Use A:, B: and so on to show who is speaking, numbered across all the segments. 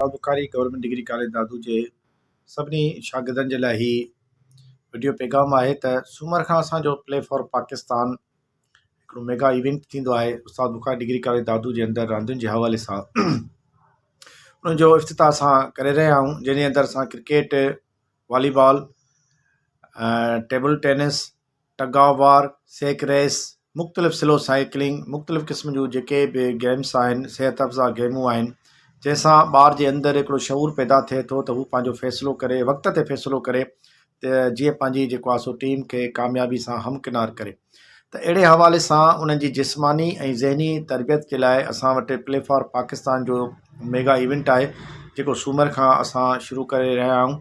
A: استاد Bukhari government degree college Dadu جي سڀني شاگردن جي لاء هي وڊيو پيغام آهي ته سومر کان اسانجو پلي فار پاڪستان هڪڙو ميگا ايونٽ ٿيندو آهي استاد بخاري ڊگري ڪاليج دادو جي اندر راندين جي حوالي سان ان جو افتتاح اسان ڪري رهيا آهيون جنهن جي اندر اسان cricket volleyball table tennis tug of war, sack race, مختلف سلو سائيڪلنگ مختلف قسم جون جيڪي به گيمس آهن صحت افزا گيمون آهن جنهن سان ٻار جي اندر هڪڙو شعور پيدا ٿئي ٿو ته هو پنهنجو فيصلو ڪري وقت تي فيصلو ڪري ته جيئن پنهنجي جيڪو آسو ٽيم کي ڪاميابي سان هم ڪنار ڪري ته اهڙي حوالي سان انهن جي جسماني ۽ ذهني تربيت جي لاء اسان وٽ پلي فار پاڪستان جو ميگا ايونٽ آهي جيڪو سومر کان اسان شروع ڪري رهيا آهيون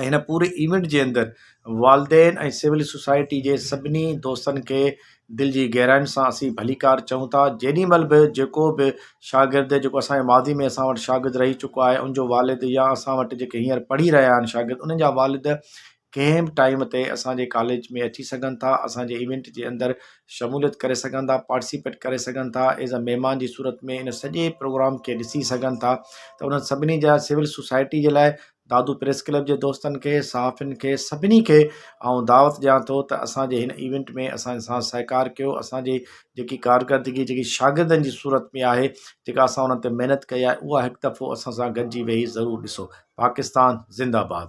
A: ۽ هن پوري ايونٽ جي اندر والدين ۽ سول سوسائٽي جي سڀني دوستن کي دل جي گهراين سان اسين ڀليڪار چئون ٿا جيڏي مهل به جيڪو به شاگرد جيڪو اسان جي ماضي ۾ اسان وٽ شاگرد رهي چڪو آهي ان جو والد يا اسان وٽ جيڪي هينئر پڙهي رهيا آهن شاگرد انهن جا والد ڪنهن به ٽائيم تي اسانجي ڪاليج ۾ اچي سگهن ٿا اسانجي ايونٽ جي اندر شموليت ڪري سگهن ٿا پارٽيسپيٽ ڪري سگهن ٿا ايز اي مهمان جي صورت ۾ ان سڄي پروگرام کي ڏسي سگهن ٿا ته انهن سڀني جا سول سوسائٽي جي لاء دادو پريس ڪلب جي دوستن کي، صحافين کي سڀني کي آئون دعوت ڏيان ٿو ته اسان جي هن ايونٽ ۾ اسان سان سهڪار ڪيو اسان جي جيڪي ڪارڪردگي جيڪي شاگردن جي صورت ۾ آهي جيڪا اسان انهن تي محنت ڪئي آهي اها هڪ دفعو اسان سان گڏجي ويهي ضرور ڏسو پاڪستان زنده باد.